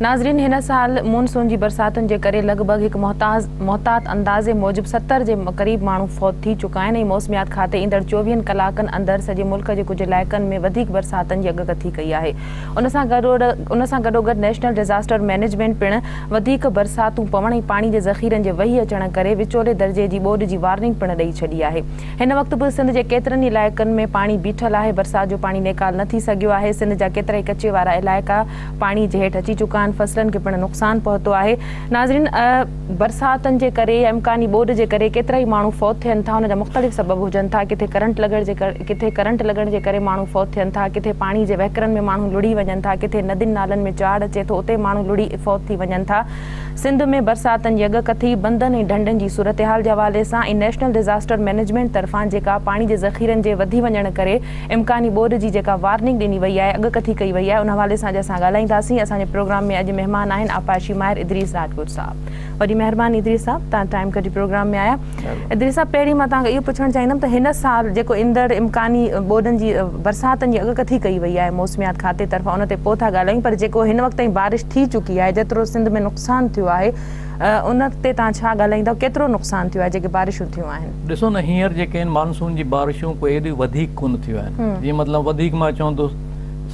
ناظرين هن سال مون سون جي برساتن جي ڪري لڳ ڀڳ هڪ محتاز محتاط اندازي موجب ستر جي قريب ماڻهو فوت ٿي چڪا آهن ۽ موسميات کاتي ايندڙ چوويهن ڪلاڪن اندر سڄي ملڪ جي ڪجهه علائقن ۾ وڌيڪ برساتن جي اڳڪٿي ڪئي آهي ان سان ان سان گڏوگڏ نيشنل ڊزاسٽر مئنيجمينٽ پڻ وڌيڪ برساتون پوڻ ۽ پاڻي جي ذخيرن جي وهي اچڻ ڪري وچولي درجي جي ٻوڏ جي وارننگ پڻ ڏئي ڇڏي آهي هن وقت به سنڌ جي ڪيترن ئي علائقن ۾ پاڻي بيٺل آهي برسات جو پاڻي نيڪال نه ٿي سگهيو آهي سنڌ جا ڪيترائي ڪچي وارا علائقا پاڻي جي هيٺ اچي چڪا آهن فصلن کي پڻ نقصان پهتو آهي ناظرين برساتن جي ڪري يا امڪاني ٻوڏ جي ڪري ڪيترائي ماڻهو فوت ٿين ٿا ان جا مختلف سبب هجن ٿا ڪٿي ڪرنٽ لڳڻ جي ڪٿي ڪرنٽ لڳڻ جي ڪري ماڻهو فوت ٿين ٿا ڪٿي پاڻي جي وهڪرن ۾ ماڻهو لڙهي وڃن ٿا ڪٿي ندين نالن ۾ چاڙهه اچي ٿو اتي ماڻهو لڙهي فوت ٿي وڃن ٿا سنڌ ۾ برساتن جي اڳ ڪٿي بندن ۽ ڍنڍن جي صورتحال جي حوالي سان ۽ نيشنل ڊزاسٽر مئنيجمينٽ طرفان جيڪا پاڻي جي ذخيرن جي وڌي وڃڻ ڪري امڪاني ٻوڏ جي جيڪا وارننگ ڏني وئي آهي، اڳڪٿي ڪئي وئي آهي، ان حوالي سان اڄ اسان ڳالهائينداسين. اسان جي پروگرام ۾ اڄ مهمان آهن آبپاشي ماهر ادريس راجپوت صاحب. وڏي مهرباني ادريس صاحب توهان ٽائيم ڪڍي پروگرام ۾ آيا. ادريس صاحب پهرين مان توهان کان اهو پڇڻ چاهيندم ته هن سال جيڪو ايندڙ امڪاني ٻوڏن جي برساتن جي اڳڪٿي ڪئي وئي آهي موسميات کاتي طرفان ان تي پوء ٿا ڳالهايون پر جيڪو هن وقت تائين بارش ٿي چڪي آهي جيترو سنڌ ۾ نقصان ٿيو آهي ان تي توهان ڇا ڳالهائيندا ڪيترو نقصان ٿيو آهي جيڪي بارشون ٿيون آهن. ڏسو نه هينئر جيڪي آهن مانسون جي بارشون ڪو ايڏيون وڌيڪ ڪونه ٿيون آهن جيئن مطلب وڌيڪ مان چون ٿو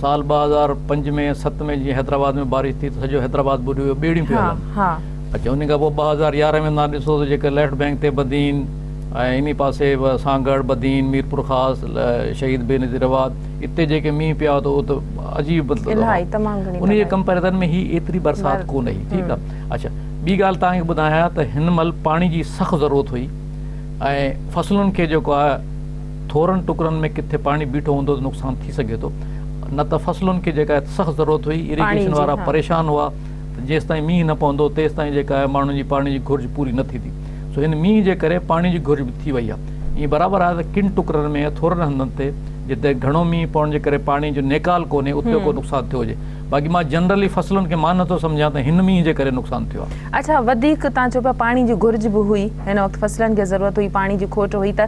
سال ٻه هزار پنج ۾ ست ۾ جيئن حيدرآباد ۾ بارش ٿي ته سڄو حيدرآباد ٻڏي ويو ٻيڙيون پيون هلن اچا ان کان پوء ٻه هزار يارهن ۾ تان ڏسو ته جيڪي ليفٽ بينڪ تي بدين ۽ انهي پاسي سانگهڙ بدين ميرپورخاص شهيد بينظير آباد اتي جيڪي مينهن پيا هئا ته اهو ته عجيب مطلب انهي جي ڪمپيرزن ۾ هي ايتري برسات ڪونه هئي ٺيڪ آهي اچا ٻي ڳالهه توهان کي ٻڌايان ته هن مهل پاڻي جي سخت ضرورت هئي ۽ فصلن کي جيڪو آهي ٿورن ٽڪرن ۾ ڪٿي پاڻي بيٺو هوندو ته نقصان ٿي سگهي ٿو نه ته فصلن کي جيڪا آهي سخت ضرورت هئي ايريگيشن وارا پريشان هئا ته جيستائين مينهن نه پوندو تيستائين جيڪا آهي ماڻهن جي پاڻي جي گهرج پوري نه ٿيندي سو هن مينهن جي ڪري پاڻي جي گهرج به ٿي وئي آهي ائين برابر آهي ته ڪن ٽڪرن ۾ ٿورن هنڌن تي جتي گهڻو مينهن پوڻ جي ڪري پاڻي جو نيڪال ڪونهي اتي ڪو نقصان ٿيو هجي باقي مان جنرلي فصلن کي مان نٿو سمجهان ته هن مينهن جي ڪري نقصان ٿيو آهي. اچا وڌيڪ تان چئو پيا پاڻي جي گهرج به هئي هن وقت فصلن کي ضرورت هئي پاڻي جي کوٽ هئي ته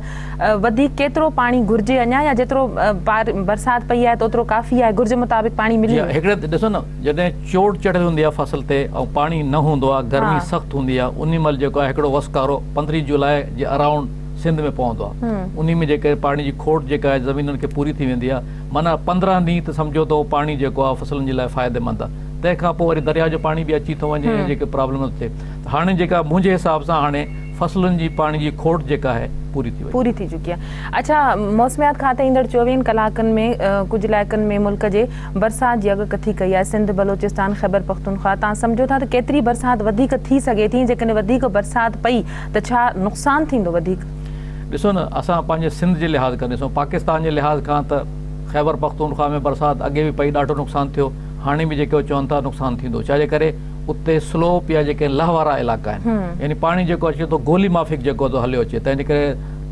وڌيڪ ڪيترو پاڻي گهرجي اڃا يا جيترو برسات پئي آهي ته اوترو ڪافي آهي گهرج مطابق پاڻي ملي ويو. هڪڙي ڏسو نه جڏهن چوٽ چڙهيل هوندي آهي فصل تي ۽ پاڻي نه هوندو آهي گرمي سخت هوندي آهي انهي مهل جيڪو آهي هڪڙو وسڪارو پندرهين جولاء جي اراونڊ سنڌ ۾ پوندو آهي انهي ۾ جي ڪري پاڻي جي کوٽ جيڪا آهي زمينن کي پوري ٿي ويندي آهي معنيٰ پندرهن ڏينهن ته سمجهو ته اهو پاڻي جيڪو آهي فصلن جي لاء فائديمند آهي تنهن کان پوء وري درياء جو پاڻي به اچي ٿو وڃي ۽ جيڪي پرابلم نه ٿئي ته هاڻي جيڪا منهنجي حساب سان هاڻي فصلن جي پاڻي جي کوٽ جيڪا آهي پوري ٿي وڃي. پوري ٿي چڪي آهي اڇا موسميات کاتي ايندڙ چوويهن ڪلاڪن ۾ ڪجهه علائقن ۾ ملڪ جي برسات جي اڳ ڪٿي ڪئي آهي سنڌ بلوچستان خيبر پختونخوا تان سمجهو ٿا ته ڪيتري برسات وڌيڪ ٿي سگهي ٿي ۽ جيڪڏهن وڌيڪ برسات پئي ته ڇا نقصان ٿيندو وڌيڪ ڏسو نه اسان پنهنجي سنڌ جي لحاظ کان ڏسون پاڪستان جي لحاظ کان ته خيبر پختونخوا ۾ برسات اڳي به پئي ڏاڍو نقصان ٿيو هاڻي به جيڪو چون ٿا نقصان ٿيندو ڇا جي ڪري اتي سلوپ يا جيڪي لهه وارا علائقا آهن يعني پاڻي جيڪو اچي ٿو گولي مافڪ جيڪو ٿو هليو اچي تنهن جي ڪري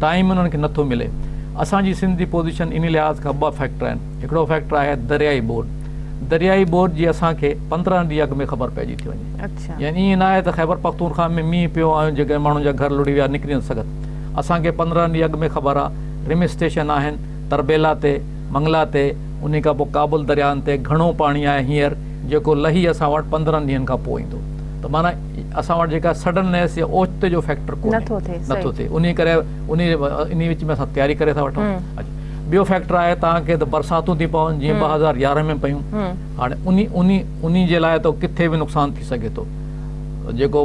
ٽائيم انهن کي نٿو ملي اسان جي سنڌ جي پوزيشن انهي لحاظ کان ٻه فيڪٽر آهن هڪڙو فيڪٽر آهي دريائي ٻوڏ دريائي ٻوڏ جي اسان کي پندرهن ڏينهن اڳ ۾ خبر پئجي ٿي وڃي يعني ائين ناهي ته خيبرپختونخوا ۾ مينهن پيو ۽ جيڪڏهن ماڻهن جا گهر لڙهي ويا نڪري نٿو سگهن. اسان کي پندرهن ڏينهن اڳ ۾ خبر آ رم اسٽيشن آهن تربيلا تي، منگلا تي، انهي کان پوء ڪابل درياهن تي گهڻو پاڻي آهي هينئر جيڪو لهي اسان وٽ پندرهن ڏينهن کان پوء ايندو ته معنيٰ اسان وٽ جيڪا سڊننيس يا اوچتو جو فيڪٽر ڪونهي نٿو ٿئي انهي ڪري انهي وچ ۾ اسان تياري ڪري ٿا وٺون. ٻيو فيڪٽر آهي تهان کي ته برساتون ٿي پون جيئن ٻه هزار يارهن ۾ پيون هاڻي انهي انهي جي لاء ته ڪٿي به نقصان ٿي سگهي ٿو. جيڪو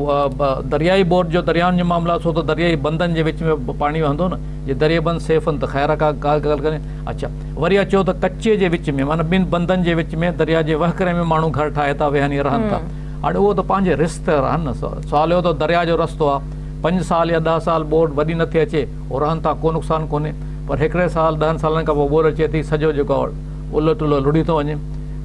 درياهي بورڊ جو درياهن جو معاملو آهي سو ته درياهي بندن جي وچ ۾ پاڻي وهندو نه جي درياهي بند سيف آهن ته خير آهي ڪا ڪا ڳالهه ڪونهي اڇا وري اچو ته ڪچي جي وچ ۾ معنيٰ ٻن بندن جي وچ ۾ درياهه جي وهڪري ۾ ماڻهو گهر ٺاهي ٿا ويهن يا رهن ٿا هاڻي اهو ته پنهنجي رسڪ تي رهن نه سوال اهو ته درياهه جو رستو آهي پنج سال يا ڏهه سال بورڊ وري نٿي اچي هو رهن ٿا ڪو نقصان ڪونهي پر هڪڙي سال ڏهن سالن کان پوء بورڊ اچي ٿي سڄو جيڪو الهه ٽلهه لڙهي ٿو وڃي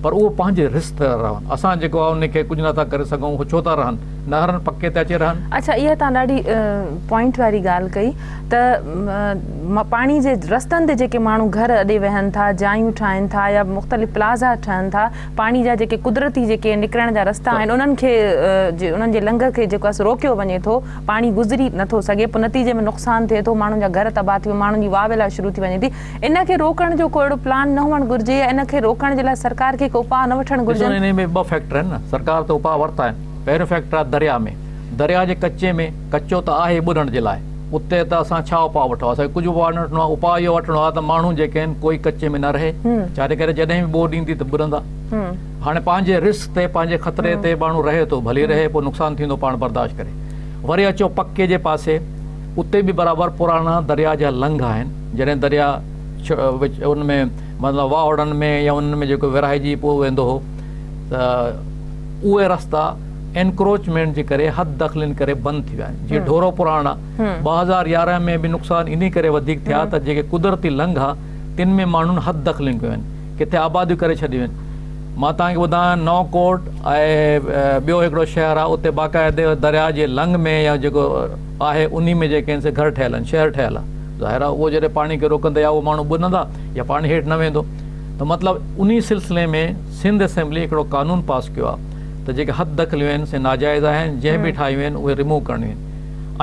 پر اهو پنهنجي رس تي رهن. اسان جيڪو آهي انهي کي ڪجهه نٿا ڪري سگهون هو ڇو ٿا رهن نه هرن پڪي تي اچي رهن. اڇا اها توهان ڏاڍي پوائنٽ واري ڳالهه ڪئي ته پاڻي جي رستن تي جيڪي ماڻهو گهر اڏي ويهن ٿا جايون ٺاهين ٿا يا مختلف پلازا ٺهن ٿا پاڻي جا جيڪي قدرتي جيڪي نڪرڻ جا رستا آهن انهن کي انهن جي لنگهه کي جيڪو آهي سو روڪيو وڃي ٿو پاڻي گذري نٿو سگهي پوء نتيجي ۾ نقصان ٿئي ٿو ماڻهن جا گهر تباهه ٿي ماڻهن جي واويلا شروع ٿي وڃي ٿي ان کي روڪڻ جو ڪو اهڙو پلان نه هئڻ گهرجي يا ان کي روڪڻ جي لاء سرڪار کي ڪي اپاء نه وٺڻ گهرجن. ڏسو انهي ۾ ٻه فيڪٽر آهن نه سرڪار ته اپاء ورتا آهن پهريون فيڪٽر آهي درياء ۾ درياء جي ڪچي ۾ ڪچو ته آهي ٻڏڻ جي لاء اتي ته اسان ڇا اپاء وٺو اسان کي ڪجهه به اپاء نه وٺڻو آهي اپاء اهو وٺڻو آهي ته ماڻهو جيڪي آهن ڪوئي ڪچي ۾ نه رهي ڇاجي ڪري جڏهن به ٻوڏ ايندي ته ٻڏندا هاڻي پنهنجي رسڪ تي پنهنجي خطري تي ماڻهو رهي ٿو ڀلي رهي پوء نقصان ٿيندو پاڻ برداشت ڪري وري اچو پڪي جي پاسي اتي به برابر پراڻا درياء جا لنگهه آهن جڏهن درياء ان ۾ مطلب واهوڙن ۾ يا انهن ۾ جيڪو ورهائجي پوء ويندو هو ته اهي رستا انڪروچمينٽ جي ڪري حد دخلين ڪري بند ٿي ويا آهن جيئن ڍورو پراڻا ٻه هزار يارهن ۾ به نقصان انهي ڪري وڌيڪ ٿيا ته جيڪي قدرتي لنگها تن ۾ ماڻهن حد دخلين ڪيون آهن ڪٿي آباديون ڪري ڇڏيون آهن مان توهان کي ٻڌايان نئون ڪوٽ ۽ ٻيو هڪڙو شهر آهي اتي باقاعدي درياء جي لنگهه ۾ يا جيڪو آهي انهي ۾ جي ڪين سي گهر ٺهيل آهن شهر ٺهيل آ ظاهر آ اهو جڏهن پاڻي کي روڪندي يا اهي ماڻهو ٻنهندا يا پاڻي هيٺ نه ويندو ته مطلب انهي سلسلي ۾ سنڌ اسيمبلي هڪڙو قانون پاس ڪيو آ ته جيڪي حد دخليون آهن سي ناجائز آهن جنهن به ٺاهيون آهن اهي رموو ڪرڻيون آهن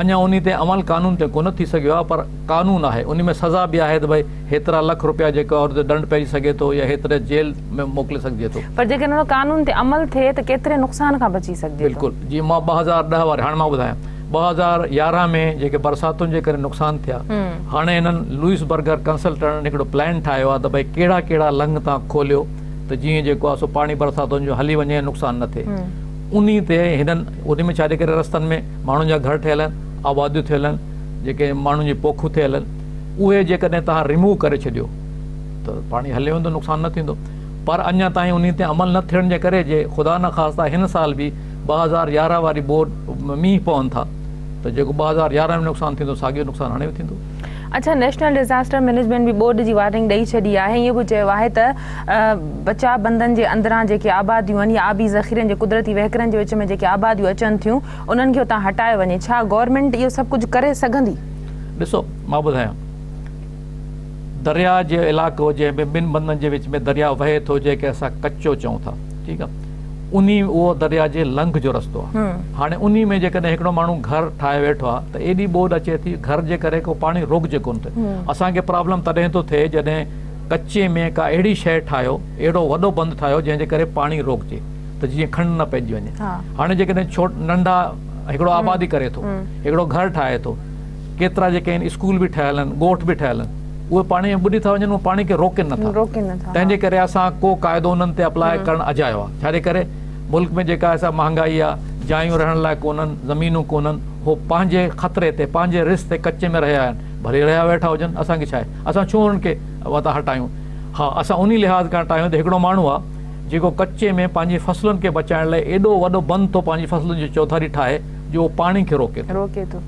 اڃان انهي تي عمل قانون تي ڪونه ٿي سگهيو آ پر قانون آهي انهي ۾ سزا به آهي ته ڀئي هيترا لک روپيا جيڪو عورت تي ڏنڊ پئجي سگهي ٿو يا هيتري جيل ۾ موڪلي سگهجي ٿو. پر جيڪڏهن ان قانون تي عمل ٿئي ته ڪيتري نقصان کان بچي سگهجي ٿو. بلڪل جي مان ٻه هزار ڏهه واري هاڻي مان ٻڌايان. ٻه هزار يارهن ۾ جيڪي برساتن جي ڪري نقصان ٿيا هاڻي هنن لوئس برگر ڪنسلٽنٽن هڪڙو پلان ٺاهيو آهي ته ڀئي ڪهڙا ڪهڙا لنگ تان کوليو ته جيئن جيڪو آهي سو پاڻي برساتن جو هلي وڃي ۽ نقصان نه ٿئي انهي تي هنن انهي ۾ ڇا جي ڪري رستن ۾ ماڻهن جا گهر ٺهيل آهن آباديون ٿيل آهن جيڪي ماڻهن جي پوکون ٿيل آهن اهي جيڪڏهن توهان ريموو ڪري ڇڏيو ته پاڻي هلي ويندو نقصان نه ٿيندو پر اڃا تائين انهي تي عمل نه ٿيڻ جي ڪري جي خدا نخواسته هن سال به ٻه هزار يارهن واري ٻوڏ ۾ مينهن پون ٿا ته جيڪو ٻه هزار يارهن ۾ نقصان ٿيندو ساڳيو نقصان هاڻي به ٿيندو. اڇا نيشنل ڊزاسٽر مئنيجمينٽ به ٻوڏ جي وارننگ ڏئي ڇڏي آهي ۽ اهو به چيو آهي ته بچاء بندن جي اندران جيڪي آباديون آهن يا آبي ذخيرن جي قدرتي وهڪرن جي وچ ۾ جيڪي آباديون اچن ٿيون انهن کي اتان هٽايو وڃي ڇا گورنمينٽ اهو سڀ ڪجهه ڪري سگهندي؟ ڏسو مان ٻڌايان درياء جي علائقو جنهن ۾ ٻن بندن جي وچ ۾ درياء وهي ٿو جنهن کي اسان ڪچو چئون ٿا. ٺيڪ آ انهي اهو دريا جي لنگهه جو رستو آ هاڻي انهي ۾ جيڪڏهن هڪڙو ماڻهو گهر ٺاهي ويٺو آ ته ايڏي ٻوڏ اچي ٿي گهر جي ڪري ڪو پاڻي روڪجي ڪونه ٿو اسان کي پرابلم تڏهن ٿو ٿئي جڏهن ڪچي ۾ ڪا اهڙي شئي ٺاهيو اهڙو وڏو بند ٺاهيو جنهن جي ڪري پاڻي روڪجي ته جيئن کنڊ نه پئجي وڃي هاڻي جيڪڏهن ڇوٽ ننڍا هڪڙو آبادي ڪري ٿو هڪڙو گهر ٺاهي ٿو ڪيترا جيڪي آهن اسڪول به ٺهيل آهن، ڳوٺ به ٺهيل آهن، اهي پاڻي ۾ ٻڏي ٿا وڃن، اهي پاڻي کي روڪين نه ٿا، تنهن جي ڪري اسان ڪو قاعدو انهن تي اپلاء ڪرڻ اجايو آهي، ڇا جي ڪري ملڪ ۾ جيڪا سا مهانگائي آهي، جايون رهڻ لاء ڪونهن، زمينون ڪونهن، هو پنهنجي خطري تي، پنهنجي رسڪ تي ڪچي ۾ رهيا آهن، ڀلي رهيا ويٺا هجن، اسان کي ڇا آهي، اسان ڇو انهن کي وتان هٽايون، ها اسان انهي لحاظ کان هٽايون ته هڪڙو ماڻهو آهي، جيڪو ڪچي ۾ پنهنجي فصلن کي بچائڻ لاء ايڏو وڏو بند ٿو پنهنجي فصلن جي چوڌاري ٺاهي، جو اهو پاڻي کي روڪي ٿو.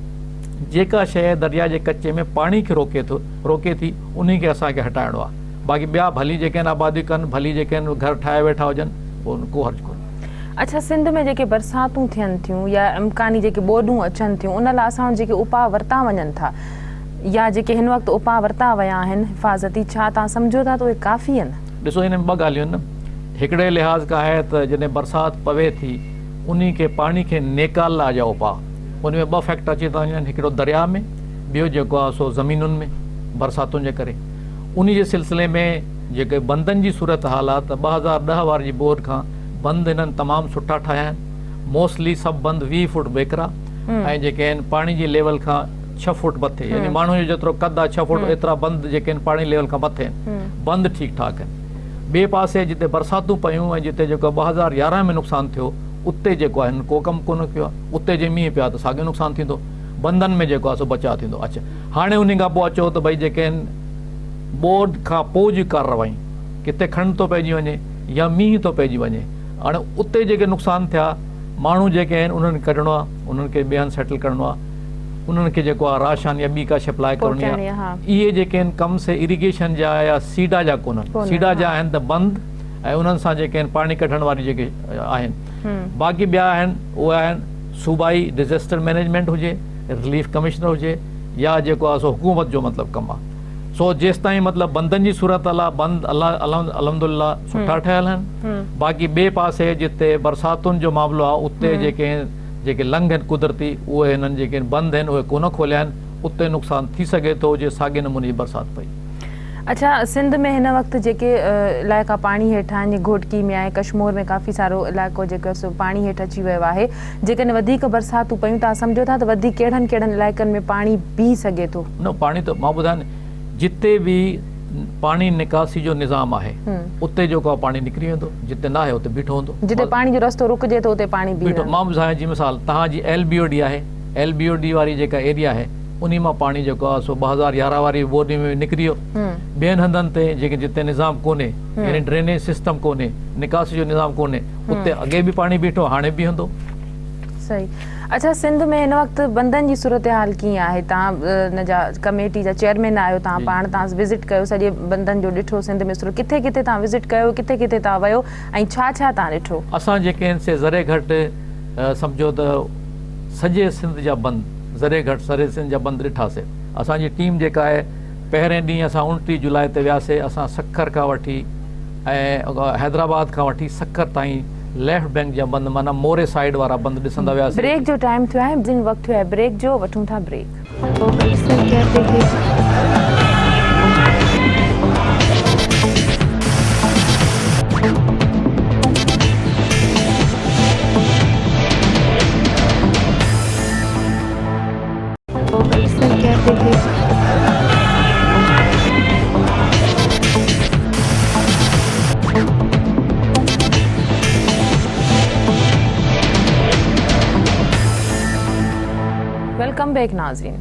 جيڪا شيء درياء جي ڪچي ۾ پاڻي کي روڪي ٿي، انهي کي اسان کي هٽائڻو آهي. باقي ٻيا ڀلي جيڪي آهن آبادي ڪن، ڀلي جيڪي آهن گهر ٺاهي ويٺا هجن، پوء ڪو حرج ڪونهي. اڇا سنڌ ۾ جيڪي برساتون ٿين ٿيون يا امڪاني جيڪي ٻوڏون اچن ٿيون ان لاء اسان وٽ جيڪي اپاء ورتا وڃن ٿا يا جيڪي هن وقت اپاء ورتا ويا آهن حفاظتي ڇا توهان سمجهو ٿا ته اهي ڪافي آهن؟ ڏسو ان ۾ ٻه ڳالهيون آهن. هڪڙي لحاظ کان آهي ته جڏهن برسات پوي ٿي. انهي کي پاڻي کي نيڪال لاء جا اپاء ان ۾ ٻه فيڪٽر اچي ٿا وڃن هڪڙو درياء ۾ ٻيو جيڪو آهي سو زمينن ۾ برساتن جي ڪري انهي جي سلسلي ۾ جيڪي بندن جي صورت حال آهي ته ٻه هزار ڏهه واري جي ٻوڏ کان بند هنن تمام سٺا ٺاهيا آهن موسٽلي سڀ بند ويهه فوٽ ويڪرا ۽ جيڪي آهن پاڻي جي ليول کان ڇهه فوٽ مٿي يعني ماڻهو جو جيترو قد آهي ڇهه فوٽ ايترا بند جيڪي آهن پاڻي ليول کان مٿي آهن بند ٺيڪ ٺاڪ آهن ٻئي پاسي جتي برساتون پيون ۽ جتي جيڪو ٻه هزار يارهن ۾ نقصان ٿيو اتي جيڪو آهي هنن ڪو ڪم ڪونه ڪيو آهي اتي جي مينهن پيا ته ساڳيو نقصان ٿيندو بندن ۾ جيڪو آهي سو بچاء ٿيندو اڇا هاڻي انهي کان پوء چئو ته ڀئي جيڪي هن ٻوڏ کان پوء جي ڪارروائي ڪٿي کنڊ ٿو پئجي وڃي يا مينهن ٿو پئجي وڃي هاڻي اتي جيڪي نقصان ٿيا ماڻهو جيڪي آهن انهن کي ڪڍڻو آهي انهن کي ٻئي هنڌ سيٽل ڪرڻو آهي انهن کي جيڪو آ راشن يا ٻي ڪا شئي پلائي ڪرڻي آ اهي جيڪي آهن ڪم سي اريگيشن جا يا سيڊا جا ڪونهن سيڊا جا آهن ته بند ۽ انهن سان جيڪي آهن پاڻي ڪڍڻ واري جيڪي آهن باقي ٻيا آهن اهي آهن صوبائي ڊزاسٽر مينيجمينٽ هجي رليف ڪمشنر هجي يا جيڪو آ سو حڪومت جو مطلب ڪم آ سو جيستائين مطلب بندن جي صورت الله بند الله الحمد لله سٺا ٺهيل آهن باقي ٻي پاسي جتي برساتن جو معاملو آ اتي جيڪي جيڪي لنگهه آهن قدرتي اهي هنن جيڪي بند آهن اهي ڪونه کوليا آهن اتي نقصان ٿي سگهي ٿو جي ساڳي نموني جي برسات پئي. اڇا سنڌ ۾ هن وقت جيڪي علائقا پاڻي هيٺ آهن جيئن گهوٽڪي ۾ آهي ڪشمور ۾ ڪافي سارو علائقو جيڪو سو پاڻي هيٺ اچي ويو آهي جيڪڏهن وڌيڪ برساتون پيون تان سمجهو ٿا ته وڌيڪ ڪهڙن ڪهڙن علائقن ۾ پاڻي بيهي سگهي ٿو. نه پاڻي ته مان ٻڌايان جتي به پاڻي نڪاسي جو نظام آهي اتي جو ڪو پاڻي نڪري ويندو جتي نه آهي اتي بيٺو هوندو جتي پاڻي جو رستو رڪجي ٿو اتي پاڻي بيٺو مان ٻڌايان جي مثال تهان جي ايل بي او ڊي آهي ايل بي او ڊي واري جيڪا ايريا آهي انهي مان پاڻي جيڪو آهي سو ٻه هزار يارهن واري بورني ۾ نڪري ويو ٻين هنڌن تي جيڪي جتي نظام ڪونهي يعني ڊرينيج سسٽم ڪونهي نڪاسي جو نظام ڪونهي اتي اڳي به پاڻي بيٺو هاڻي بيهندو صحيح اچا سنڌ ۾ هن وقت بندن جي صورتحال ڪيئن آهي تهان ان جا ڪميٽي جا چيئرمين آهيو تهان پاڻ تهان وزٽ ڪيو سڄي بندن جو ڏٺو سنڌ ۾ صورت ڪٿي ڪٿي تهان وزٽ ڪيو ڪٿي ڪٿي تهان ويو ۽ ڇا ڇا تهان ڏٺو. اسان جيڪي آهن سي ذري گهٽ سمجهو ته سڄي سنڌ جا بند ذري گهٽ سري سنڌ جا بند ڏٺا سي اسان جي ٽيم جيڪا آهي پهرين ڏينهن اسان اڻٽيهه جولاء تي وياسي اسان سکر کان وٺي ۽ حيدرآباد کان وٺي سکر تائين ليفٽ بينڪ جا بند معنيٰ موري سائيڊ وارا بند ڏسندا وياسي. بريڪ جو ٽائيم ٿيو آهي جن وقت ٿيو آهي بريڪ جو وٺون ٿا بريڪ. فوڪس سر ڪيا تي هي. ويلڪم بيڪ ناظرين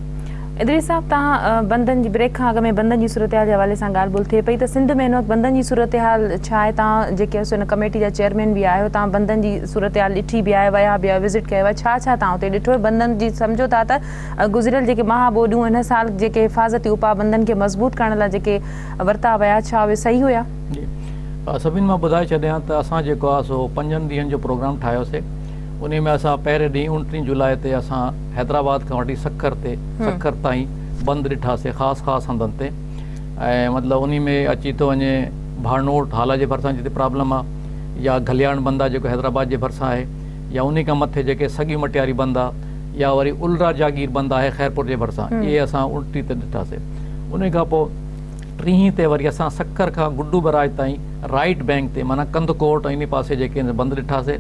ادريس صاحب تان بندن جي بريڪ کان اڳ ۾ بندن جي صورتحال جي حوالي سان ڳالهه ٻولهه ٿئي پئي ته سنڌ ۾ هن وقت بندن جي صورتحال ڇا آهي تان جيڪي هن ڪميٽي جا چيئرمين به آهيو تان بندن جي صورتحال ڏٺي به آهي ويا به آهيو وزٽ ڪيو آهي ڇا ڇا توهان اتي ڏٺو بندن جي سمجهو ٿا ته گذريل جيڪي ماهه ٻوڏيون هن سال جيڪي حفاظتي اپاء بندن کي مضبوط ڪرڻ لاء جيڪي ورتا ويا ڇا اهي صحيح هيا؟ جي سڀني مان ٻڌائي ڇڏيان ته اسان جيڪو آهي سو پنجن ڏينهن جو پروگرام ٺاهيو سي انهي ۾ اسان پهرين ڏينهن اوڻٽيهه جولاء تي اسان حيدرآباد کان وٺي سکر تي سکر تائين بند ڏٺا سي خاص خاص هنڌن تي ۽ مطلب انهي ۾ اچي ٿو وڃي ڀانوٽ هالا جي ڀرسان جتي پرابلم آهي يا گلياڻ بند آ جيڪو حيدرآباد جي ڀرسان آهي يا انهي کان مٿي جيڪي سڳي مٽياري بند آ يا وري الرا جاگير بند آهي خيرپور جي ڀرسان اهي اسان ان ٽي تي ڏٺاسي انهي کان پو ٽيهين تي وري اسان سکر کان گڊو بئراج تائين رائيٽ بئنڪ تي معنيٰ ڪنڌڪوٽ ۽ انهي پاسي جيڪي بند ڏٺاسي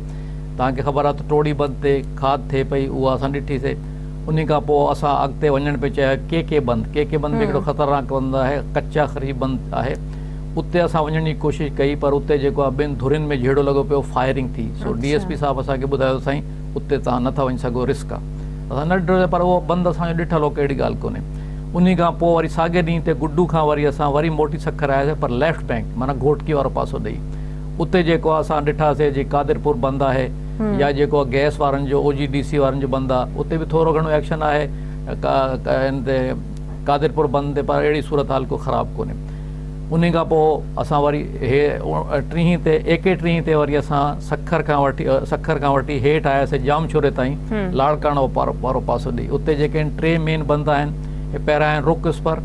توهان کي خبر آ ته ٽوڙي بند تي کاڌ ٿئي پئي اها اسان ڏٺي سي انهي کان پو اسان اڳتي وڃڻ پي چاهيو ڪي ڪي بند ڪي ڪي بند به هڪڙو خطرناڪ بند آهي ڪچا خريف بند آهي اتي اسان وڃڻ جي ڪوشش ڪئي پر اتي جيڪو آهي ٻن ڌرين ۾ جهيڙو لڳو پيو فائرنگ ٿي سو ڊي ايس پي صاحب اسان کي ٻڌايو ته سائين اتي توهان نه ٿا وڃي سگهو رسڪ آهي اسان نه ڊريو پر اهو بند اسان جو ڏٺل هو ڪهڙي ڳالهه ڪونهي انهي کان پوء وري ساڳي ڏينهن تي گڊو کان وري اسان وري موٽي سکر آياسي پر ليفٽ بئنڪ معنيٰ گهوٽڪي وارو پاسو ڏئي اتي جيڪو آهي اسان ڏٺاسي جي قادرپور بند آهي يا جيڪو آهي گئس وارن جو او جي ڊي سي وارن جو بند آهي اتي به ٿورو گهڻو ايڪشن آهي ان تي قادرپور بند تي پر اهڙي صورتحال ڪو خراب ڪونهي انهي کان پوء اسان وري هي ٽيهين تي اي ڪي ٽيهين تي وري اسان سکر کان وٺي سکر کان وٺي هيٺ آياسي ڄام شوري تائين لاڙڪاڻو وارو پاسو ڏي اتي جيڪي آهن ٽي مين بند آهن پهريان آهن رڪ اسپر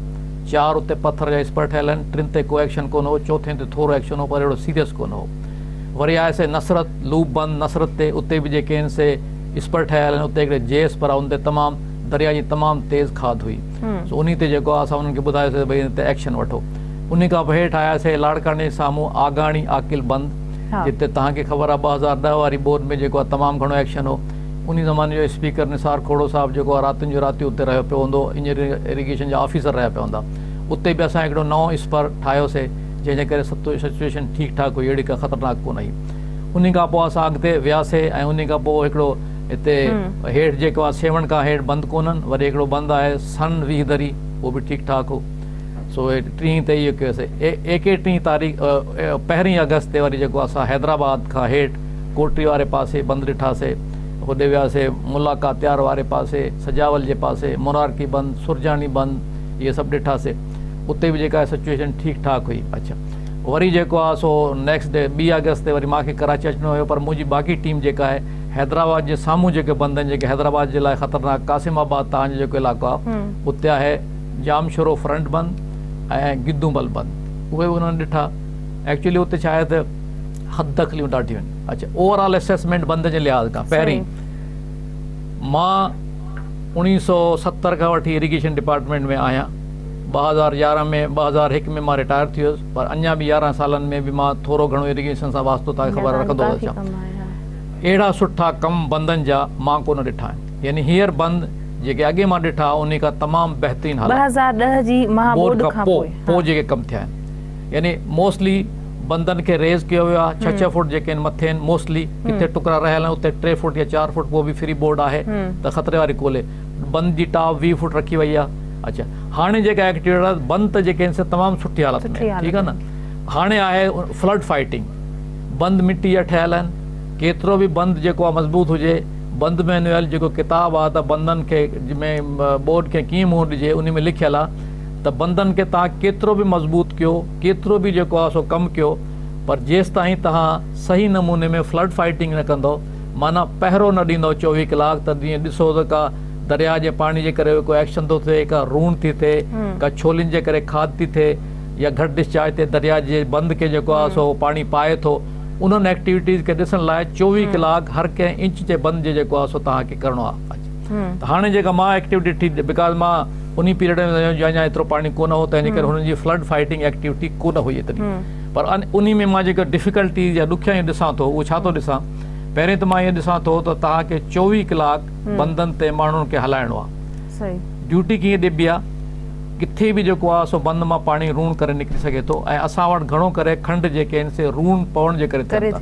چار اتي پٿر جا اسپر ٺهيل آهن ٽن تي ڪو ايڪشن ڪونه هو چوٿين تي ٿورو ايڪشن هو پر اهڙو سيريس ڪونه هو وري آياسي نصرت لوپ بند نصرت تي اتي به جيڪي آهن سي اسپر ٺهيل آهن اتي هڪڙي جي اسپر آهي ان تي تمام درياء جي تمام تيز کاڌ هئي سو انهي تي جيڪو آهي اسان انهن کي ٻڌايوسين ته ڀئي هن تي ايڪشن وٺو انهي کان پوء هيٺ آياسين لاڙڪاڻي جي سامهون آگاڻي عاقل بند جتي توهان کي خبر آهي ٻه هزار ڏهه واري ٻوڏ ۾ جيڪو آهي تمام گهڻو ايڪشن هو انهي زماني جو اسپيڪر نثار کوڙو صاحب جيڪو آهي راتين جون راتيون اتي رهيو پيو هوندو انجنيئرنگ اريگيشن جا آفيسر رهيا پيا هوندا اتي به اسان هڪڙو نئون اسپر ٺاهيوسين جنهن جي ڪري سچوئيشن ٺيڪ ٺاڪ هئي اهڙي ڪا خطرناڪ ڪونه هئي انهي کان پوء اسان اڳتي وياسين ۽ انهي کان پوء هڪڙو هتي هيٺ جيڪو آهي سيوهڻ کان هيٺ بند ڪونهن وري هڪڙو بند آهي سن ويهه دري اهو به ٺيڪ ٺاڪ هو سو ٽيهين تي اهو ڪيو سي ايڪي ٽيهين تاريخ پهرين آگسٽ تي وري جيڪو اسان حيدرآباد کان هيٺ ڪوٽري واري پاسي بند ڏٺاسي هوڏي وياسي ملاقات تيار واري پاسي سجاول جي پاسي مرارڪي بند سرجاڻي بند اهي سڀ ڏٺاسي اتي به جيڪا سچويشن ٺيڪ ٺاڪ هئي اڇا وري جيڪو آهي سو نيڪسٽ ڊي ٻي آگسٽ تي وري مانکي ڪراچي اچڻو هيو پر منهنجي باقي ٽيم جيڪا آهي حيدرآباد جي سامهون جيڪي بند آهن جيڪي حيدرآباد جي لاء خطرناڪ قاسم آباد تان جو جيڪو علائقو آهي اتي آهي ڄامشورو فرنٽ بند ۽ گدون بل بند اهي به انهن ڏٺا ايڪچولي اتي ڇا آهي ته حد دخليون ڏاڍيون آهن اڇا اوور آل اسيسمينٽ بند جي لحاظ کان پهرين مان اوڻيهه سو ستر کان وٺي اريگيشن ڊپارٽمينٽ ۾ آهيان ٻه هزار يارهن ۾ ٻه هزار هڪ ۾ مان رٽائر ٿي ويس پر اڃا به يارهن سالن ۾ به مان ٿورو گهڻو اريگيشن سان واسطو تان کي خبر رکندو ٿو اچان اهڙا سٺا ڪم بندن جا مان ڪونه ڏٺا آهن يعني هيئر بند جيڪي اڳي مان ڏٺا انهي کان تمام بهترين حالت بورڊ کان پو پو جيڪي ڪم ٿيا آهن يعني موسٽلي بندن کي ريز ڪيو ويو آهي ڇهه ڇهه فوٽ جيڪي آهن مٿي آهن موسٽلي ڪٿي ٽڪرا رهيل آهن اتي ٽي فوٽ يا چار فوٽ پو به فري بورڊ آهي ته خطري واري ڪولهي بند جي ٽاپ ويهه فوٽ رکي وئي آهي اڇا هاڻي جيڪا ايڪٽيوٽ آهي بند ته جيڪي آهن سي تمام سٺي حالت ۾ ٺيڪ آهي نه هاڻي آهي فلڊ فائيٽنگ بند مٽيء جا ٺهيل آهن. ڪيترو به بند جيڪو آهي مضبوط هجي، بند مينوئل جيڪو ڪتاب آهي ته بندن کي ۾ ٻوڏ کي ڪيئن منهن ڏجي انهي ۾ لکيل آهي ته بندن کي توهان ڪيترو به مضبوط ڪيو، ڪيترو به جيڪو آهي سو ڪم ڪيو پر جيستائين توهان صحيح نموني ۾ فلڊ فائيٽنگ نه ڪندؤ معنيٰ پهرو نه ڏيندؤ چوويهه ڪلاڪ ته جيئن ڏسو ته ڪا درياء جي پاڻي جي ڪري ڪو ايڪشن ٿو ٿئي ڪا روڻ ٿي ٿئي ڪا ڇولين جي ڪري کاڌ ٿي ٿئي يا گهٽ ڊسچارج تي درياء جي بند کي جيڪو آهي سو پاڻي پائي ٿو انهن ايڪٽيوٽيز کي ڏسڻ لاء چوويهه ڪلاڪ هر ڪنهن انچ جي بند جي جيڪو آهي سو توهان کي ڪرڻو آهي ته هاڻي جيڪا مان ايڪٽيوٽي ڏٺي بڪاز مان انهي پيريڊ ۾ ويو جنهن جا ايترو پاڻي ڪونه هو تنهن جي ڪري هنن جي فلڊ فائيٽنگ ايڪٽيوٽي ڪونه هئي ايتري پر انهي ۾ مان جيڪا ڊفيڪلٽيز يا ڏکيائيون ڏسان ٿو اهو ڇا ٿو ڏسان پهرين ته مان اهو ڏسان ٿو ته توهان کي چوويهه ڪلاڪ بندن تي ماڻهن کي هلائڻو آهي ڊيوٽي ڪيئن ڏبي آ، ڪٿي به جيڪو آ سو بند مان پاڻي روڻ ڪري نڪري سگهي ٿو ۽ اسان وٽ گهڻو ڪري کنڊ جيڪي آهن سي روڻ پوڻ جي ڪري ٿين ٿا.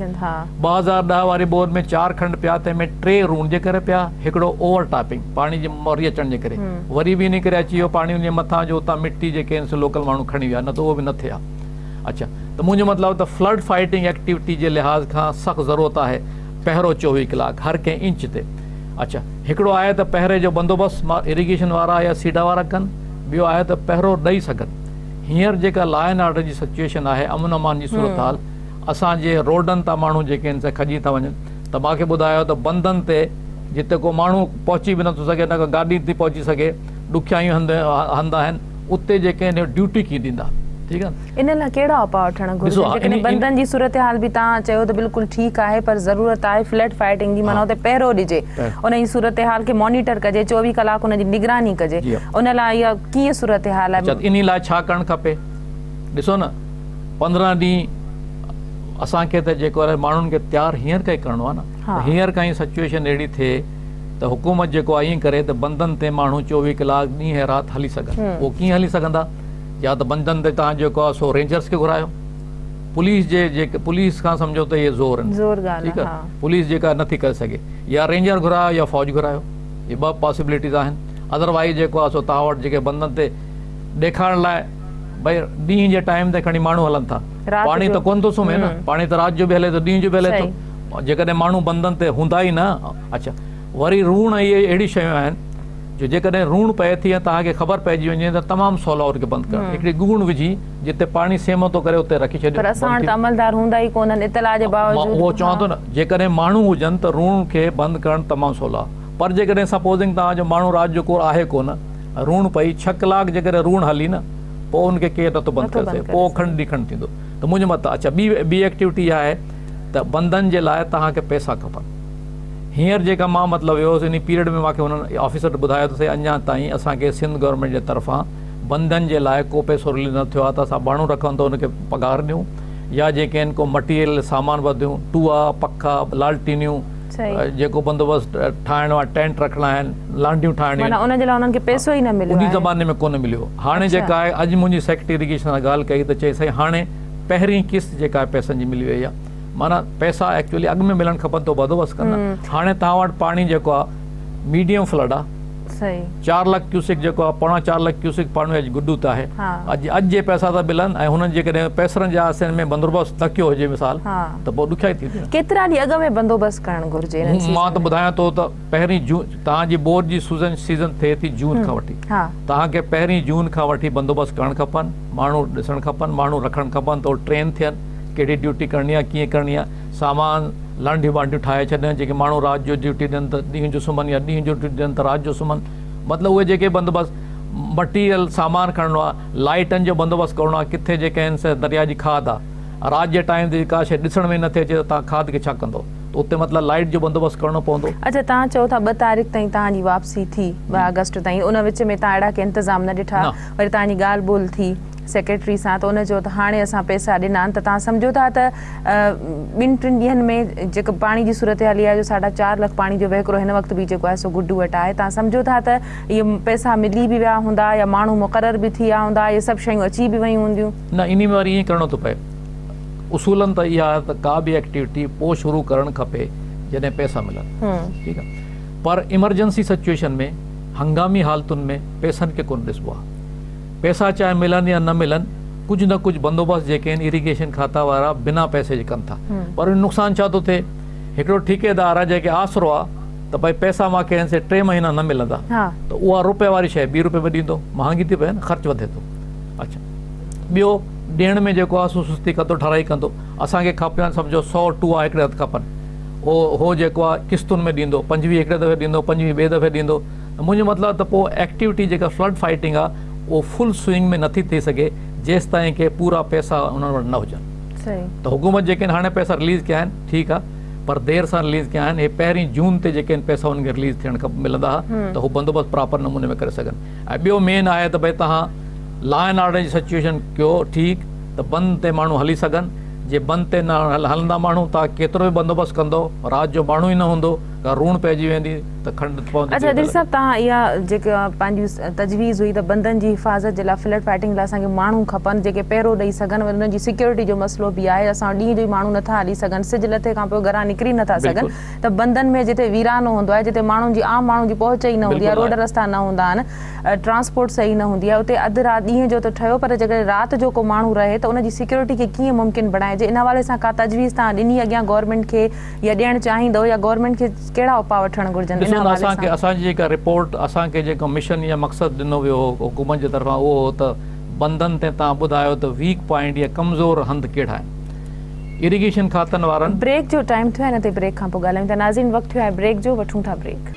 ٻه هزار ڏهه واري ٻوڏ ۾ چار کنڊ پيا تنهن ۾ ٽي روڻ جي ڪري پيا هڪڙو اوور ٽاپنگ پاڻي جي موري اچڻ جي ڪري وري به انهي ڪري اچي ويو پاڻي انهي مٿان جو اتان مٽي جيڪي آهن سي لوڪل ماڻهو کڻي ويا نه ته اهو به نه ٿئي ها اڇا ته منهنجو مطلب ته فلڊ فائيٽنگ ايڪٽيوٽي جي لحاظ کان سخت ضرورت آهي پهرو چوويهه ڪلاڪ هر ڪنهن انچ تي اچ هڪڙو آهي ته پهري جو بندوبست مان اريگيشن وارا يا سيڊا وارا ڪن ٻيو آهي ته پهرو ڏئي سگهن هينئر جيڪا لا اينڊ آرڊر جي سچوئيشن آهي امن امان جي صورتحال اسان جي روڊن تان ماڻهو جيڪي آهن سي کڄي ٿا وڃن ته مان کي ٻڌايو ته بندن تي جتي ڪو ماڻهو پهچي به نٿو سگهي نه ڪو گاڏي ٿي پهچي سگهي ڏکيائيون هنڌ هنڌ آهن اتي جيڪي آهن ڊيوٽي ڪي ڏيندا ٺيڪ آهي ان لاء ڪهڙا اپاء وٺڻ گهرجن جيڪڏهن بندن جي صورتحال به توهان چيو ته بلڪل ٺيڪ آهي پر ضرورت آهي فليٽ فائيٽنگ جي معنيٰ اتي پهرو ڏجي ان جي صورتحال کي مانيٽر ڪجي چوويهه ڪلاڪ ان جي نگراني ڪجي ان لاء اها ڪيئن صورتحال آهي. اچا ان لاء ڇا ڪرڻ کپي ڏسو نه پندرهن ڏينهن اسان کي ته جيڪو آهي ماڻهن کي تيار هينئر کان ئي ڪرڻو آهي نه ته هينئر کان ئي سچوئيشن اهڙي ٿئي ته حڪومت جيڪو آهي ائين ڪري ته بندن تي ماڻهو چوويهه ڪلاڪ ڏينهن رات هلي سگهن اهو ڪيئن هلي سگهندا يا ته بندن تي توهان جيڪو آهي سو رينجرز کي گهرايو پوليس جي جيڪي پوليس کان سمجهو ته اهي زور آهن زور ڳالهه ٺيڪ آهي پوليس جيڪا نٿي ڪري سگهي يا رينجر گهرايو يا فوج گهرايو هي ٻه پاسيبليٽيز آهن اڌر وائيز جيڪو آهي سو توهان وٽ جيڪي بندن تي ڏيکارڻ لاء ڀئي ڏينهن جي ٽائيم تي کڻي ماڻهو هلن ٿا پاڻي ته ڪونه ٿو سمهي نه پاڻي ته رات جو به هلي ٿو ڏينهن جو به هلي ٿو جيڪڏهن ماڻهو بندن تي هوندا ئي نه اڇا وري روڻ اهي اهڙي شيون آهن جو جيڪڏهن روڻ پئي ٿي ۽ توهان کي خبر پئجي وڃي ته تمام سولو ان کي بند ڪرڻ هڪڙي ڳوڻ وجهي جتي پاڻي سيم ٿو ڪري اتي رکي ڇڏيو پر اسان وٽ ته عملدار هوندا ئي ڪونهن اطلاع جي باوجود مان اهو چوان ٿو نه جيڪڏهن ماڻهو هجن ته روڻ کي بند ڪرڻ تمام سولو آهي پر جيڪڏهن سپوزنگ توهان جو ماڻهو رات جو ڪور آهي ڪونه روڻ پئي ڇهه ڪلاڪ جيڪڏهن روڻ هلي نه پوء ان کي ڪير نٿو بند ڪري سگهي پوء کڻ ڏي کڻ ٿيندو ته منهنجي مت اڇا ٻي ٻي ايڪٽيوٽي اها آهي ته بندن جي لاء توهان کي پئسا کپن هينئر جيڪا مان مطلب ويو هوس انهي پيريڊ ۾ ماکي هن آفيسر ٻڌايو ته سائين اڃان تائين اسان کي سنڌ گورنمينٽ جي طرفان بندن جي لاء ڪو پئسو رليز نه ٿيو آهي ته اسان ٻانهون رکون ته ان کي پگهار ڏيون يا جي ڪين ڪو مٽيريل سامان وڌيون ٽوئا پکا لالٽينيون جيڪو بندوبست ٺاهڻو آهي ٽينٽ رکڻا آهن لانڍيون ٺاهڻيون آهن ان جي لاء انهن کي پئسو ئي نه مليو انهي زماني ۾ ڪونه مليو هاڻي جيڪا آهي اڄ منهنجي سيڪريٽري اريگيشن سان ڳالهه ڪئي ته چئي سائين هاڻي پهرين قسط جيڪا آهي پئسن جي ملي وئي آهي معنيٰ پئسا ايڪچوئلي اڳ ۾ ملڻ کپن تو بندوبست ڪن ها هاڻي توهان وٽ پاڻي جيڪو آهي ميڊيم فلڊ آهي صحيح چار لک ڪيوسڪ جيڪو آهي پوڻا چار لک ڪيوسڪ پاڻي اڄ گڊو ته آهي اڄ اڄ جي پئسا ته ملن ۽ هنن جيڪڏهن پئسرن جا سن ۾ بندوبست نه ڪيو هجي مثال ته پوء ڏکيائي ٿي وڃي ڪيترا ڏينهن اڳ ۾ بندوبست ڪرڻ گهرجي انهن سيزن مان ته ٻڌايان ٿو ته پهرين جون توهان جي بور جي سوزن سيزن ٿئي ٿي جون کان وٺي توهان کي پهرين جون کان وٺي بندوبست ڪرڻ کپن ماڻهو ڏسڻ کپن ماڻهو رکڻ کپن ته هو ٽرين ٿين ڪهڙي ڊيوٽي ڪرڻي آهي ڪيئن ڪرڻي آهي سامان لانڍيون وانڍيون ٺاهي ڇڏڻ جيڪي ماڻهو رات جو ڊيوٽي ڏين ته ڏينهن جو سمهن يا ڏينهن جو ڊيوٽي ڏين ته رات جو سمهن مطلب اهي جيڪي بندوبست مٽيريل سامان کڻڻو آهي لائيٽن جو بندوبست ڪرڻو آهي ڪٿي جيڪا آهن سي درياء جي کاڌ آهي رات جي ٽائيم تي ڪا شيء ڏسڻ ۾ نٿي اچي ته توهان کاڌ کي ڇا ڪندو ته اتي مطلب لائيٽ جو بندوبست ڪرڻو پوندو. اڇا توهان چئو ٿا ٻه تاريخ تائين توهان جي واپسي ٿي ٻه آگسٽ تائين ان وچ ۾ توهان اهڙا ڪي انتظام نه ڏٺا وري توهان جي ڳالهه ٻولهه ٿي سيڪريٽري سان ته ان چيو ته هاڻي اسان پئسا ڏنا آهن ته توهان سمجهو ٿا ته ٻن ٽن ڏينهن ۾ جيڪا پاڻي جي صورتحال اها آهي جو ساڍا چار لک پاڻي جو وهڪرو هن وقت به جيڪو آهي سو گڊو وٽ آهي توهان سمجهو ٿا ته اهي پئسا ملي به ويا هوندا يا ماڻهو مقرر به ٿي ويا هوندا اهي سڀ شيون اچي به ويون هونديون. نه انهي ۾ وري ائين ڪرڻو ٿو پئي اصولن ته اها آهي ته ڪا به ايڪٽيوٽي پوء شروع ڪرڻ کپي جڏهن پئسا ملن ٺيڪ آهي پر ايمرجنسي سچوئيشن ۾ هنگامي حالتن ۾ پئسن کي ڪونه ڏسبو آهي. پئسا چاهي ملن يا نه ملن ڪجهه نه ڪجهه بندوبست جيڪي آهن ايريگيشن کاتا وارا بنا پئسي جي ڪن ٿا پر ان جو نقصان ڇا ٿو ٿئي هڪڙو ٺيڪيدار آهي جنهن کي آسرو آهي ته ڀائي پئسا ماکي هن سي ٽي مهينا نه ملندا ته اها روپي واري شئي ٻي روپي ۾ ڏيندو مهانگي ٿي پئي نه خرچ وڌي ٿو اڇا ٻيو ڏيڻ ۾ جيڪو آهي سو سستي ڪندو ٺرائي ڪندو اسان کي کپن سمجهو سؤ ٽوئا هڪڙي هٿ کپن هو هو جيڪو آهي قسطن ۾ ڏيندو پنجويهه هڪڙي دفعي ڏيندو پنجويهه ٻئي دفعي ڏيندو منهنجو مطلب آهي ته پوء ايڪٽيوٽي جيڪا فلڊ فائيٽنگ آهي اهو فل سوئنگ ۾ نٿي ٿي سگهي جيستائين ڪي پورا پئسا انهن وٽ نه هجن ته حڪومت جيڪي هاڻي پئسا رليز ڪيا آهن ٺيڪ آهي پر دير سان رليز ڪيا آهن اهي پهرين جون تي جيڪي ان پئسا انهن کي رليز ٿيڻ کپ ملندا ها ته هو بندوبست پراپر نموني ۾ ڪري سگهن ۽ ٻيو مين آهي ته ڀئي تهان لا اينڊ آرڊر جي سچوئيشن ڪيو ٺيڪ ته بند تي ماڻهو هلي سگهن جي بند تي نه هلندا ماڻهو تهان ڪيترو به بندوبست ڪندو رات جو ماڻهو ئي نه هوندو ڪا روڻ پئجي ويندي ته کنڊ پوندي اچا دير صاحب تان اها جيڪي پنهنجي تجويز هئي ته بندن جي حفاظت جي لاء فلڊ فائٽنگ لاء اسان کي ماڻهو کپن جيڪي پهرو ڏئي سگهن وري انهن جي سيڪيورٽي جو مسئلو به آهي اسان ڏينهن جو ئي ماڻهو نٿا هلي سگهن سج لٿي کان پوء گهران نڪري نٿا سگهن ته بندن ۾ جتي ويرانو هوندو آهي جتي ماڻهن جي عام ماڻهن جي پهچ ئي نه هوندي آهي روڊ رستا نه هوندا آهن ٽرانسپورٽ صحيح نه هوندي آهي اتي اڌ رات ڏينهن جو ته ٺهيو پر جيڪڏهن رات جو ڪو ماڻهو رهي ته ان جي سيڪيورٽي کي ڪيئن ممڪن بڻائجي ان حوالي سان ڪا تجويز توهان ڏني اڳيان گورنمينٽ کي يا ڏيڻ چاهيندو يا گورنمينٽ کي ڪهڙا اپاء وٺڻ گهرجن ان حوالي سان؟ ڏسو ته اسان جي جيڪا رپورٽ اسان کي جيڪو مشن يا مقصد ڏنو ويو هو حڪومت جي طرفان اهو هو ته بندن تي توهان ٻڌايو ته ويڪ پوائنٽ يا ڪمزور هنڌ ڪهڙا آهن ايريگيشن کاتن وارن بريڪ جو ٽائيم ٿيو آهي ان تي بريڪ کان پوء ڳالهايون ٿا ناظرين وقت ٿيو آهي بريڪ جو وٺون ٿا بريڪ.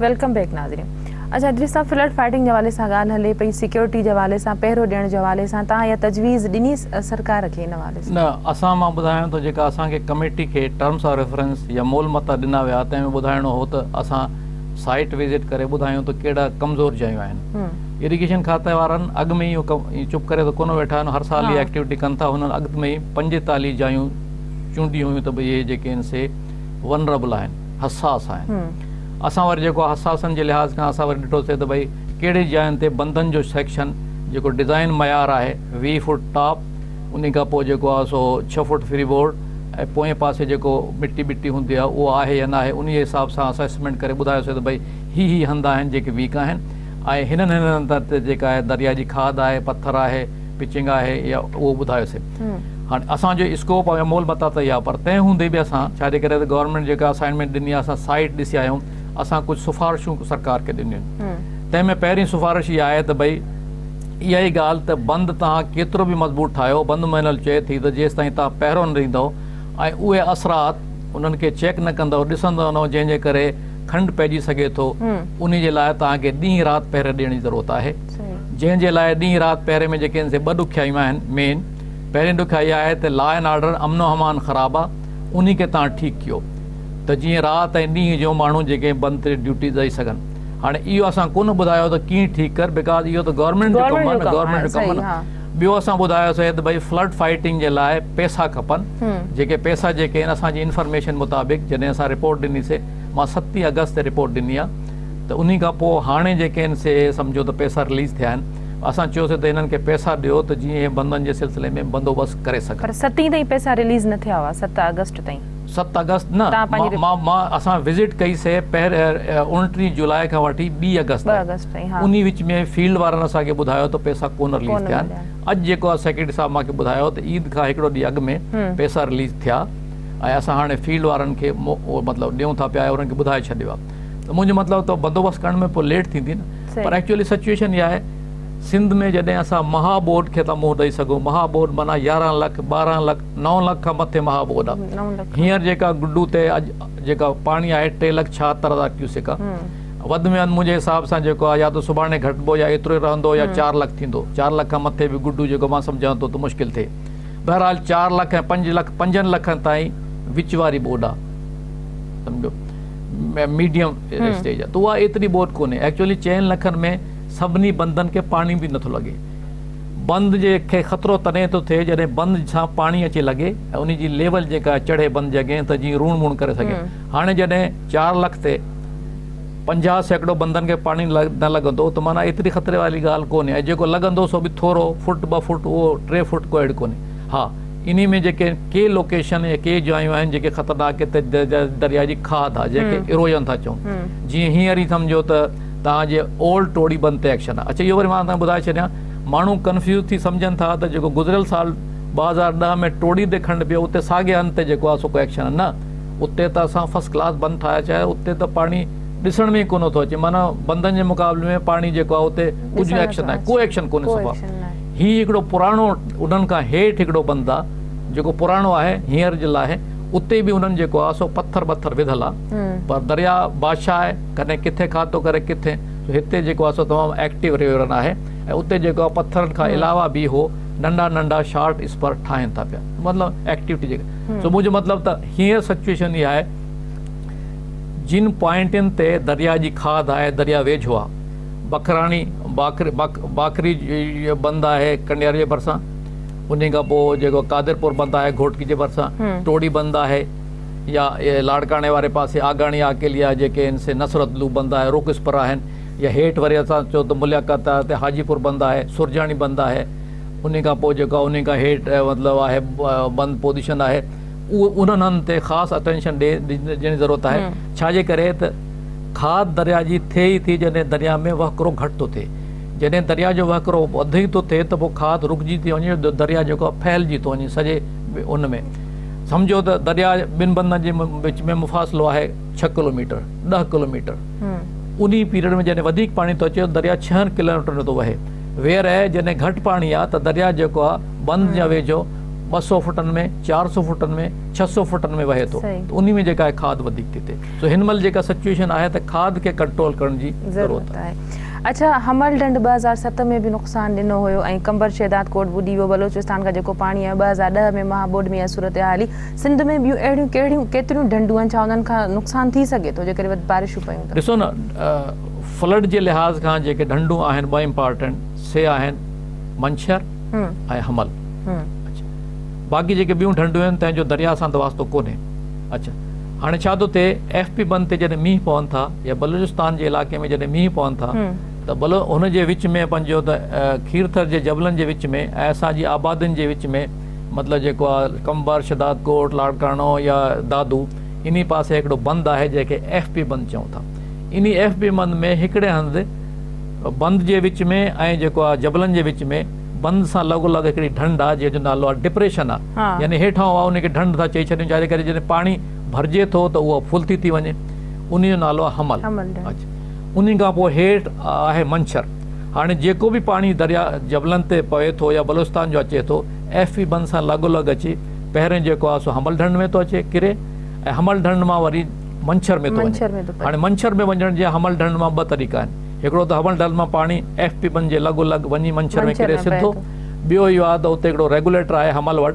ويلڪم بيڪ ناظرين اچا ادريس صاحب فلڊ فائيٽنگ جي حوالي سان ڳالهه هلي پئي سيڪيورٽي جي حوالي سان پهرو ڏيڻ جي حوالي سان تان اها تجويز ڏني سرڪار کي ان حوالي سان. نه اسان مان ٻڌايان ٿو جيڪا اسان کي ڪميٽي کي ٽرمس آف ريفرنس يا مول متا ڏنا ويا تنهن ۾ ٻڌائڻو هو ته اسان سائيٽ وزٽ ڪري ٻڌايون ته ڪهڙا ڪمزور جايون آهن اريگيشن کاتي وارن اڳ ۾ اهو چپ ڪري ته ڪونه ويٺا آهن هر سال اها ايڪٽيوٽي ڪن ٿا هنن اڳ ۾ ئي پنجيتاليهه جايون چونڊيون هيون ته ڀئي اهي جيڪي آهن سي ونربل آهن، حساس آهن. اسان وري جيڪو حساسن جي لحاظ کان اسان وري ڏٺوسي ته ڀئي ڪهڙي جاين تي بندن جو سيڪشن جيڪو ڊزائن معيار آهي ويهه فوٽ ٽاپ انهي کان پوء جيڪو آهي سو ڇهه فوٽ فري بورڊ ۽ پوئين پاسي جيڪو مٽي ٻٽي هوندي آهي اهو آهي يا ناهي انهي حساب سان اسان اسسمينٽ ڪري ٻڌايوسي ته ڀئي هي هي هنڌ آهن جيڪي ويڪ آهن ۽ هنن هنن هنڌن تي جيڪا آهي درياء جي کاڌ آهي پٿر آهي پچنگ آهي يا اهو ٻڌايوسي هاڻي اسان جو اسڪوپ ۽ مول متا ته اها پر تنهن هوندي به اسان ڇا جي ڪري ته گورنمينٽ جيڪا اسائنمينٽ ڏني آهي اسان سائيٽ ڏسي آيا آهيون اسان ڪجهه سفارشون سرڪار کي ڏنيون آهن تنهن ۾ پهرين سفارش اها آهي ته ڀئي اها ئي ڳالهه ته بند توهان ڪيترو به مضبوط ٺاهيو بند مهنل چئي ٿي ته جيستائين توهان پهرو نه ڏيندو ۽ اهي اثرات انهن کي چيڪ نه ڪندو ڏسندو نه جنهن جي ڪري کنڊ پئجي سگهي ٿو انهي جي لاء توهان کي ڏينهن رات پهري ڏيڻ جي ضرورت آهي جنهن جي لاء ڏينهن رات پهري ۾ جيڪي سي ٻه ڏکيائيون آهن مين پهرين ڏکيائي اها آهي ته لا اينڊ آرڊر امن و امان خراب آ انهي کي تهان ٺيڪ ڪيو ته جيئن رات ۽ ڏينهن جو ماڻهو جيڪي بند تي ڊيوٽي ڏئي سگهن هاڻي اهو اسان ڪونه ٻڌايو ته ڪيئن ٺيڪ ڪر بيڪاز اهو ته گورنمينٽ جو ڪم آ نه گورنمينٽ جو ڪم نه ٻيو اسان ٻڌايو سي ته ڀئي فلڊ فائيٽنگ جي لاء پئسا کپن جيڪي پئسا جيڪي آهن اسان جي انفارميشن مطابق جڏهن اسان رپورٽ ڏني سي مان ستي آگسٽ تي رپورٽ ڏني آ ته انهي کان پوء هاڻي جيڪي ان سي اي سمجهو ته پئسا رليز ٿيا آهن اسان چيوسي ته انهن کي پئسا ڏيو ته جيئن اهي بندن جي سلسلي ۾ بندوبست ڪري سگهن. پر ستين تائين پئسا رليز نه ٿيا هئا ست آگسٽ تائين. ست آگسٽ نه مان مان اسان وزٽ ڪئي سي اوڻٽيهه جولاء کان وٺي ٻي آگسٽ تائين انهي وچ ۾ فيلڊ وارن اسان کي ٻڌايو ته پئسا ڪونه رليز ٿيا آهن اڄ جيڪو آ سيڪريٽري صاحب مان کي ٻڌايو ته عيد کان هڪڙو ڏينهن اڳ ۾ پئسا رليز ٿيا ۽ اسان هاڻي فيلڊ وارن کي مطلب ڏيون ٿا پيا انهن کي ٻڌائي ڇڏيو آ. ته منهنجو مطلب تو بندوبست ڪرڻ ۾ پوء ليٽ ٿيندي نه پر ايڪچوئلي سچوئيشن اها آهي سنڌ ۾ جڏهن اسان مها ٻوڏ کي ٿا منهن ڏئي سگهون مها ٻوڏ معنيٰ يارهن لک ٻارهن لک نو لک کان مٿي مها ٻوڏ آهي هينئر جيڪا گڊو تي اڄ جيڪا پاڻي آهي ٽي لک ڇاهتر هزار ڪيوسڪ آهي وڌ ۾ وڌ منهنجي حساب سان جيڪو آهي يا ته سڀاڻي گهٽبو يا ايترو ئي رهندو يا چار لک ٿيندو چار لک کان مٿي به گڊو جيڪو مان سمجهان ٿو ته مشڪل ٿئي بهرحال چار لک ۽ پنج لک پنجن لکن تائين وچ واري ٻوڏ آهي سمجهو ميڊيم اسٽيج آهي ته اها ايتري ٻوڏ ڪونهي ايڪچوئلي چئن لکن ۾ سڀني بندن کي پاڻي به نٿو لڳي بند جي کي خطرو تڏهن ٿو ٿئي جڏهن بند سان پاڻي اچي لڳي ۽ ان جي ليول جيڪا چڙهي بند جي اڳين ته جيئن روڻ مون ڪري سگهي هاڻي جڏهن چار لک تي پنجاهه سيڪڙو بندن کي پاڻي نه لڳندو ته معنيٰ ايتري خطري واري ڳالهه ڪونهي ۽ جيڪو لڳندو سو به ٿورو فوٽ ٻه فوٽ اهو ٽي فوٽ ڪو اهڙي ڪونهي ها، انهي ۾ جيڪي ڪي لوڪيشن يا ڪي جايون آهن جيڪي خطرناڪ درياء جي کاڌ آهي جنهن کي ارويون ٿا چئون جيئن هينئر ئي سمجهو ته توهان جي اولڊ ٽوڙي بند تي ايڪشن آهي اڇا اهو وري مان توهان کي ٻڌائي ڇڏيان ماڻهو ڪنفيوز ٿي سمجهن ٿا ته جيڪو گذريل سال ٻه هزار ڏهه ۾ ٽوڙي تي کنڊ پيو اتي ساڳي هنڌ تي جيڪو آهي سو ڪو ايڪشن آهي نه اتي ته اسان فرسٽ ڪلاس بند ٺاهيا ڇا آهي اتي ته پاڻي ڏسڻ ۾ ئي ڪونه ٿو اچي معنيٰ بندن جي مقابلي ۾ پاڻي جيڪو آهي اتي ڪجهه ايڪشن ناهي ڪو ايڪشن ڪونهي صفا هي هڪڙو پراڻو انهن کان هيٺ هڪڙو بند آ جيڪو پراڻو آهي هينئر جي لاء اتي به انهن جيڪو آ سو پٿر ٻٿر وڌل آ پر درياء بادشاهه آهي ڪڏهن ڪٿي کاڌ ٿو ڪري ڪٿي سو هتي جيڪو آ سو تمام ايڪٽيو ريو رن آهي ۽ اتي جيڪو آ پٿرن کان علاوه به هو ننڍا ننڍا شارٽ اسپر ٺاهين ٿا پيا مطلب ايڪٽيوٽي جيڪا سو منهنجو مطلب ته هينئر سچويشن اها آهي جن پوائنٽن تي درياء جي کاڌ آهي درياء ويجهو آ بکراڻي، باکري جو بند آهي ڪنڊياري جي ڀرسان، انهي کان پوء جيڪو قادرپور بند آهي گهوٽڪي جي ڀرسان، ٽوڙي بند آهي يا لاڙڪاڻي واري پاسي آگاڻي آڪيليا جيڪي هن سي نصرت لو بند آهي روڪسپر آهن يا هيٺ وري اسان چئون ته مليا قطار تي حاجي پور بند آهي سرجاڻي بند آهي انهي کان پوء جيڪو انهي کان هيٺ مطلب آهي بند پوزيشن آهي اهو انهن هنڌن تي خاص اٽينشن ڏيڻ جي ضرورت آهي ڇا جي ڪري ته کاڌ درياء جي ٿئي ئي ٿي جڏهن درياء ۾ وهڪرو گهٽ ٿو ٿئي جڏهن درياء جو وهڪرو اڌ ئي ٿو ٿئي ته پوء کاڌ رڪجي ٿي وڃي ته درياء جيڪو آهي ڦهلجي ٿو وڃي سڄي ان ۾ سمجهو ته درياء ٻن بندن جي وچ ۾ مفاصلو آهي ڇهه ڪلوميٽر ڏهه ڪلوميٽر انهي پيريڊ ۾ جڏهن وڌيڪ پاڻي ٿو اچي درياء ڇهن ڪلوميٽرن جو ٿو وهي ويرهه جڏهن گهٽ پاڻي آهي ته درياء جيڪو آهي بند جي ويجهو ٻه سؤ فٽن ۾ چار سؤ فٽن ۾ ڇهه سؤ فٽن ۾ وهي ٿو ته انهي ۾ جيڪا آهي کاڌ وڌيڪ ٿي ٿئي سو هن مهل جيڪا سچوئيشن آهي ته کاڌ کي ڪنٽرول ڪرڻ جي ضرورت آهي. اڇا حمل ڍنڍ ٻه هزار ست ۾ به نقصان ڏنو هيو ۽ قمبر شهداد ڪوٽ ٻڏي ويو بلوچستان کان جيڪو پاڻي آيو ٻه هزار ڏهه ۾ مها ٻوڏ ۾ اها صورتحالي سنڌ ۾ ٻيون اهڙيون ڪهڙيون ڪيتريون ڍنڍون آهن ڇا انهن کان نقصان ٿي سگهي ٿو جيڪڏهن وڌ بارشون پيون ته. ڏسو نه فلڊ جي لحاظ کان جيڪي ڍنڍون آهن ٻه امپارٽنٽ سي آهن منڇر ۽ حمل. اڇا. باقي جيڪي ٻيون ڍنڍون آهن، تنهن جو درياهه سان ته واسطو ڪونهي. اڇا. هاڻي ڇا ٿو ٿئي، ايف پي بند تي جڏهن مينهن پون ٿا يا بلوچستان جي علائقي ۾ جڏهن مينهن پون ٿا ته بلو هن جي وچ ۾ پنهنجو ته کيرٿر جي جبلن جي وچ ۾ ۽ اسان جي آبادين جي وچ ۾ مطلب جيڪو آهي قمبر، شهداد ڪوٽ، لاڙڪاڻو يا دادو انهي پاسي هڪڙو بند آهي جنهن کي ايف پي بند چئون ٿا. انهي ايف پي بند ۾ هڪڙي هنڌ بند جي وچ ۾ ۽ جيڪو آ جبلن جي وچ ۾ بند سان لڳو لڳ هڪڙي ڍنڍ آ جنهن جو نالو آ ڊپريشن آ يعني هيٺان هو ان کي ڍنڍ ٿا چئي ڇڏيون ڇا جي ڪري جڏهن پاڻي ڀرجي ٿو ته اهو ڦل ٿي ٿي وڃي انهي جو نالو آ حمل انهي کان پوء هيٺ آهي منڇر هاڻي جيڪو به پاڻي دريا جبلن تي پوي ٿو يا بلوچستان جو اچي ٿو ايف پي بند سان لڳو لڳ اچي پهرين جيڪو آ سو حمل ڍنڍ ۾ ٿو اچي ڪري ۽ حمل ڍنڍ مان وري منڇر ۾ ٿو وڃي. هاڻي منڇر ۾ وڃڻ جي حمل ڍنڍ مان ٻه طريقا آهن. هڪڙو ته حمل ڍنڍ مان پاڻي ايف پي ٻن جي لڳو لڳ وڃي منڇر ۾ ڪري سڌو. ٻيو اهو آهي ته اتي هڪڙو ريگوليٽر آهي حمل وٽ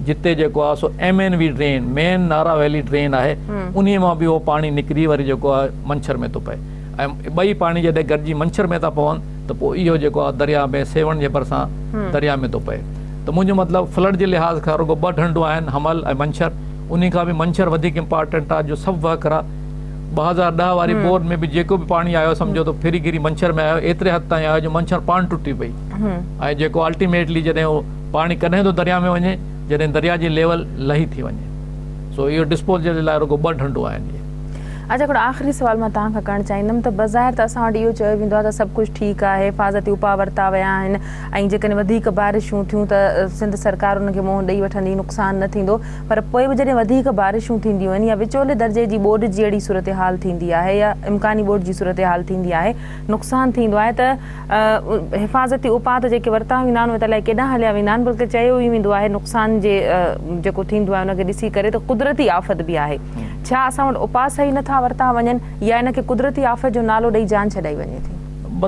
جتي جيڪو آهي سو M N V drain, main Nara valley drain, آهي انهي مان به اهو پاڻي نڪري وري جيڪو آهي منڇر ۾ ٿو پئي ۽ ٻئي پاڻي جڏهن گڏجي منڇر ۾ ٿا پون ته پوء اهو جيڪو آهي درياء ۾ سيوهڻ جي ڀرسان درياء ۾ ٿو پئي ته منهنجو مطلب فلڊ جي لحاظ کان رڳو ٻه ڍنڍون آهن حمل ۽ منڇر. انهي کان به منڇر وڌيڪ امپارٽنٽ آ جو سڀ وهڪرا ٻه هزار ڏهه واري بور ۾ به جيڪو به پاڻي آيو سمجهو ته ڦري گهري منڇر ۾ آيو ايتري حد تائين آيو جو منڇر پاڻ ٽٽي پئي ۽ جيڪو الٽيميٽلي جڏهن اهو پاڻي ڪڏهن ٿو درياء ۾ وڃي جڏهن درياء جي ليول لهي ٿي وڃي سو اهو ڊسپوزل جي لاء رڳو ٻه ڍنڍون آهن اهي. اچا هڪڙو آخري سوال مان توهان کان ڪرڻ چاهيندم ته بظاهر ته اسان وٽ اهو چيو ويندو آ ته سڀ ڪجهه ٺيڪ آ حفاظتي اپاء ورتا ويا آهن ۽ جيڪڏهن وڌيڪ بارشون ٿيون ته سنڌ سرڪار انهن کي منهن ڏئي وٺندي نقصان نه ٿيندو پر پوء به جڏهن وڌيڪ بارشون ٿينديون آهن يا وچولي درجي جي ٻوڏ جيئڙي صورتحال ٿيندي آهي يا امڪاني ٻوڏ جي صورتحال ٿيندي آهي نقصان ٿيندو آهي ته حفاظتي اپاء ته جيڪي ورتا ويندا آهن اهي ته الائي ڪيڏانهن هليا ويندا آهن بلڪه چيو ئي ويندو آهي نقصان جي جيڪو ٿيندو آهي ان کي ڏسي ڪري ته قدرتي آفت به آهي ڇا اسان وٽ اپاء صحيح نه ٿا ورتا وڃن يا ان کي قدرتي آفت جو نالو ڏئي جان ڇڏائي وڃي ٿي.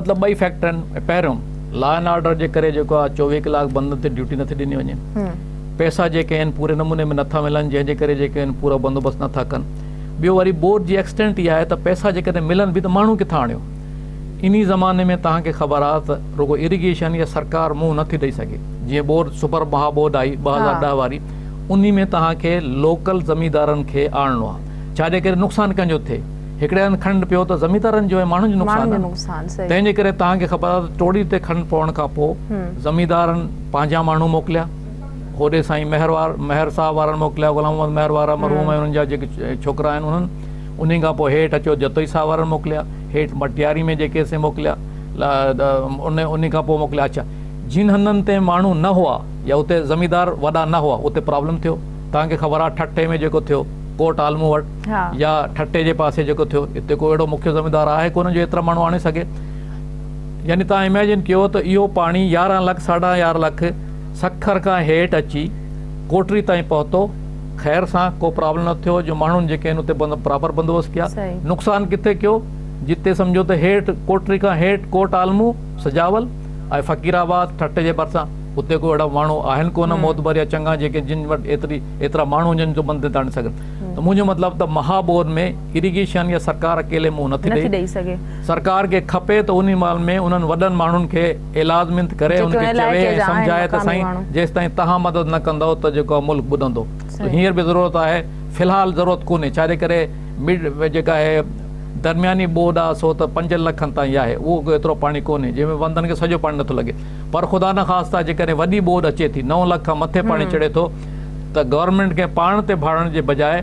مطلب ٻئي فيڪٽر آهن پهريون لا اينڊ آرڊر جي ڪري جيڪو آهي چوويهه ڪلاڪ بندن تي ڊيوٽي نه ٿي ڏني وڃي. پئسا جيڪي آهن پوري نموني ۾ نٿا ملن جنهن جي ڪري جيڪي آهن پورا بندوبست نٿا ڪن ٻيو وري بورڊ جي ايڪسٽينٽ اها آهي ته پئسا جيڪڏهن ملن به ته ماڻهو ڪٿان آڻيو انهي زماني ۾ توهان کي خبر آهي ته رڳو اريگيشن يا سرڪار منهن نٿي ڏئي سگهي جيئن بورڊ سپر مها بورڊ آئي ٻه هزار ڏهه واري انهي ۾ توهان کي لوڪل زميندارن کي آڻڻو آهي ڇا جي ڪري نقصان ڪنهن جو ٿئي هڪڙي هنڌ کنڊ پيو ته زميندارن جو ۽ ماڻهن جو نقصان آهي تنهن جي ڪري توهان کي خبر آهي ته ٽوڙي تي کنڊ پوڻ کان پوء زميندارن پنهنجا ماڻهو موڪليا هوڏي سائين مهر مهر صاحب وارن موڪليا غلام محمد مهر وارا مرحوم ۽ انهن جا جيڪي ڇوڪرا آهن انهن انهي کان پوء هيٺ اچو جتوئي صاحب وارن موڪليا هيٺ مٽياري ۾ جيڪي سي موڪليا انهي کان پوء موڪليا اڇا جن هنڌن تي ماڻهو نه هئا يا اتي زميندار وڏا نه هئا اتي پرابلم ٿيو توهان کي خبر آهي ٺٽي ۾ جيڪو ٿيو ڪوٽ عالمون وٽ يا ٺٽي جي پاسي جيڪو ٿيو اتي ڪو اهڙو مکيه زميندار آهي ڪونه جو ايترا ماڻهو آڻي سگهي يعني توهان اميجن ڪيو ته اهو پاڻي يارهن لک ساڍا يارهن لک سکر کان هيٺ اچي ڪوٽڙي تائين پهتو خير سان ڪو پرابلم نه ٿيو جو ماڻهن جيڪي آهن اتي پراپر بندوبست ڪيا نقصان ڪٿي ڪيو جتي سمجهو ته هيٺ ڪوٽڙي کان هيٺ ڪوٽ عالمون سجاول ۽ فقير آباد ٺٽي جي ڀرسان اتي ڪو اهڙا ماڻهو آهن ڪونه معتبر يا چڱا جيڪي جن وٽ ايتري ايترا ماڻهو هجن جو بند تي آڻي سگهن ته منهنجو مطلب ته مها ٻوڏ ۾ اريگيشن يا سرڪار اڪيلي منهن نٿي ڏئي سگهي سرڪار کي کپي ته انهي مال ۾ انهن وڏن ماڻهن کي اعلازمنت ڪري انهن کي چوي ۽ سمجهائي ته سائين جيستائين توهان مدد نه ڪندؤ ته جيڪو آهي ملڪ ٻڏندو ته هينئر به ضرورت آهي في الحال ضرورت ڪونهي ڇا جي ڪري جيڪا آهي درمياني ٻوڏ آهي سو ته پنجن لکن تائين آهي اهو ڪو ايترو پاڻي ڪونهي جنهن ۾ وندن کي سڄو پاڻي نٿو لڳي پر خدا نه خاستا جيڪڏهن وڏي ٻوڏ اچي ٿي نو لک کان مٿي پاڻي چڙهي ٿو ته گورنمينٽ کي پاڻ تي ڀاڙڻ جي بجاء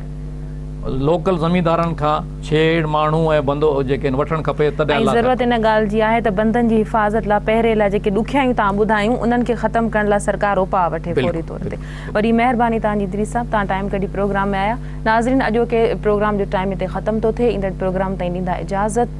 لوڪل زميندارن کان ڇيڙ ماڻهو ۽ بندو جيڪي وٺڻ کپي تڏهن ۽ ضرورت ان ڳالهه جي آهي ته بندن جي حفاظت لا پهري لا جيڪي ڏکيائيون توهان ٻڌايون انهن کي ختم ڪرڻ لا سرڪار اپاء وٺي فوري طور تي وڏي مهرباني توهان جي ادريس صاحب توهان ٽائيم ڪڍي پروگرام ۾ آيا ناظرين اڄوڪي پروگرام جو ٽائيم هتي ختم ٿو ٿئي ايندڙ پروگرام تائين ڏيندا اجازت.